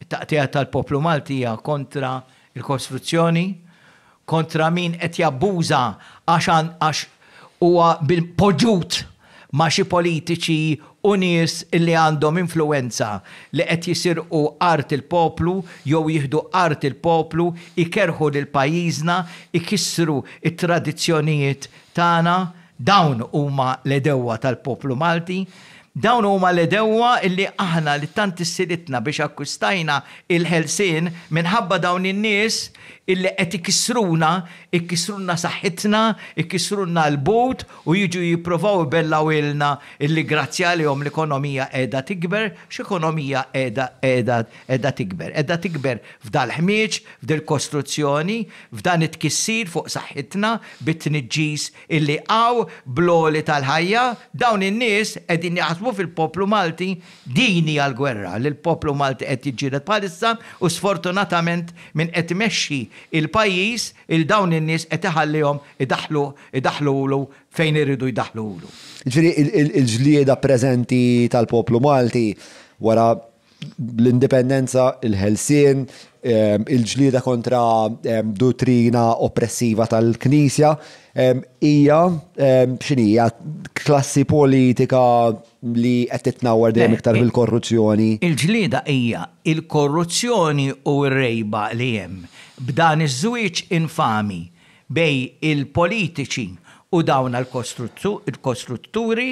It-taqtigħa tal-poplu Malti hija kontra l-kostruzzjoni, kontra min qed jabbuża għax għax huwa poġġut ma' xi politiċi u nies li għandhom influwenza li qed jisirqu art il-poplu jew jieħdu art il-poplu, ikerrħu lil pajjiżna, ikissru t-tradizzjonijiet tagħna. Dawn huma l-għedewwa tal-poplu Malti, dawn huma l-għedewwa li aħna li tant issieritna biex akkwistajna l-ħelsien minħabba dawn in-nies li qed ikissruna, ikissrulna saħħitna, ikissrulna l-but u jiġu jipprovaw ibellgħuilna li grazzi għalihom l-ekonomija qiegħda tikber, x'ekonomija qiegħda qiegħda qiegħda tikber? Qiegħda tikber f'dal-ħmieġ, f'dil-kostruzzjoni, F'dan it-tkissir fuq saħħitna bit-tniġġis illi qaw bl-għoli tal-ħajja, dawn in-nies qegħdin jaħsbu fil-poplu Malti, din hija l-gwerra li l-poplu Malti qed jiġġieled bħalissa u sfortunatament min qed imexxi l-pajjiż il dawn in-nies qed iħallihom idaħħlu idaħħlulu fejn iridu jdaħħlulu. Jiġifieri l-ġlieda preżenti tal-poplu Malti wara l-indipendenza, il-ħelsien, ehm, il-ġlieda kontra ehm, dottrina oppressiva tal-Knisja, ehm, hija x'inhija klassi politika li qed titnawwar dejjem iktar bil-korruzzjoni. Il-ġlieda hija il-korruzzjoni u r-rejba li hemm b'dan iż-żwieġ infami bejn il-politiċi u dawna l-kostrutturi,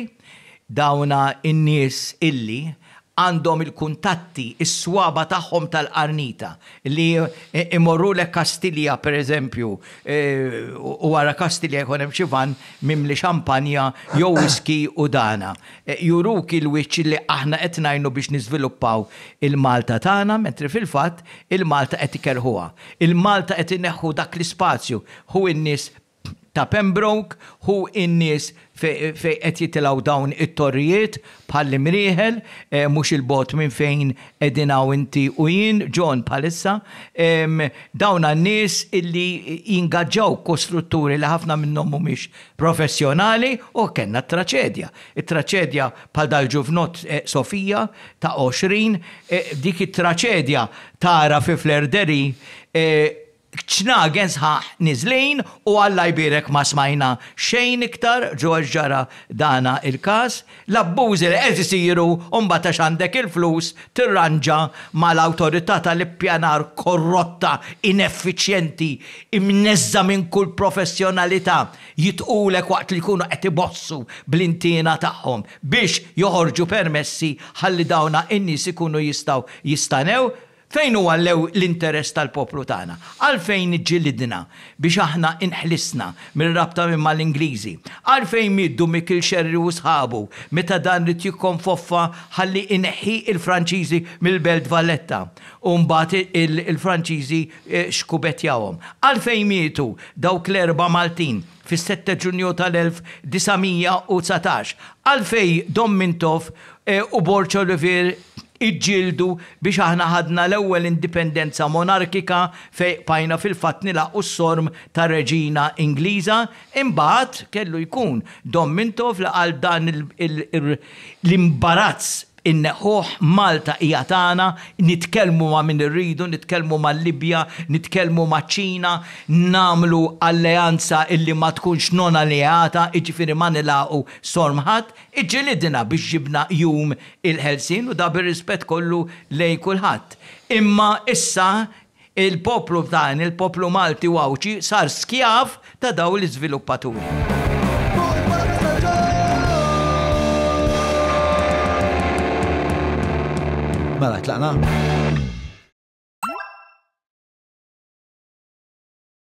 dawna n-nies illi għandhom il-kuntatti, is-swaba' tagħhom tal-qarnita, li jmorrulek Kastilja, per eżempju, u wara Kastilja jkun hemm xi vann mimli xampanja jew whisky u dana. Juruk il-wiċċ li aħna qed ngħinu biex niżviluppaw il-Malta tagħna mentri fil-fatt il-Malta qed ikerrħuha. Il Malta qed ineħħu dak l-ispazju. Hu n-nies ta' Pembroke, hu n-nies fejn qed jitilgħu dawn it-torrijiet bħall-Imrieħel, mhux 'il bogħod minn fejn qegħdin hawn inti u jien, John, bħalissa. Dawna n-nies illi jingaġġaw kostrutturi li ħafna minnhom mhumiex professjonali u kellna t-traċedja. It-traċedja bħal dal-ġuvnott Sofia ta' 20, dik it-traċedja tara fi Flerdery ċnagen sħaħ niżlin u Alla jbierek ma smajna xejn iktar dwar x'ġara dana il-każ. L-abbużi li qed isiru u mbagħad għax għandek il-flus tirranġa mal-awtorità tal-ippjanar korrotta, ineffiċjenti, imneżżgħa minn kull professjonalità, jitqulek waqt li jkunu qed ibossu bl-intiena tagħhom. biex joħorġu permessi ħalli dawna n-nies ikunu jistgħu jistanew, fejn huwa l-interess tal-poplu tagħna? Għalfejn ġġilidna biex aħna nħlisna mir-rabta minn mal-Ingliżi? Għalfejn mieddu Mikiel Xerri u sħabu meta dan ried jikkonfoffa ħalli jneħħi l-Franċiżi mill-Belt Valletta u mbagħad il-Franċiżi xkubetjawhom? Għalfejn mietu dawk l-erba' Maltin? fis-sette Ġunju tal-1919, għalfejn Dom Mintoff u Borg Olivier iġġieldu biex aħna ħadna l-ewwel indipendenza monarkika fejn qbajna fil-fatt nilgħaqu s-sorm ta' reġina Ingliża, imbagħad kellu jkun Dom Mintoff li qal dan l-imbarazz Inneħħuh, Malta hija tagħna, nitkellmu ma' min irridu, nitkellmu mal-Libja, nitkellmu maċ-Ċina, nagħmlu alleanza illi ma tkunx non alleata, jiġifieri ma nilagħqu sorm ħadd, iġġilidna biex ġibna jum il-ħelsien u da bir-rispett kollu lejn kulħadd. Imma issa Il-poplu tagħna, il-poplu Malti u Għawdxi sar skjav ta' dawn l-iżviluppaturi. Mela, tlaqna?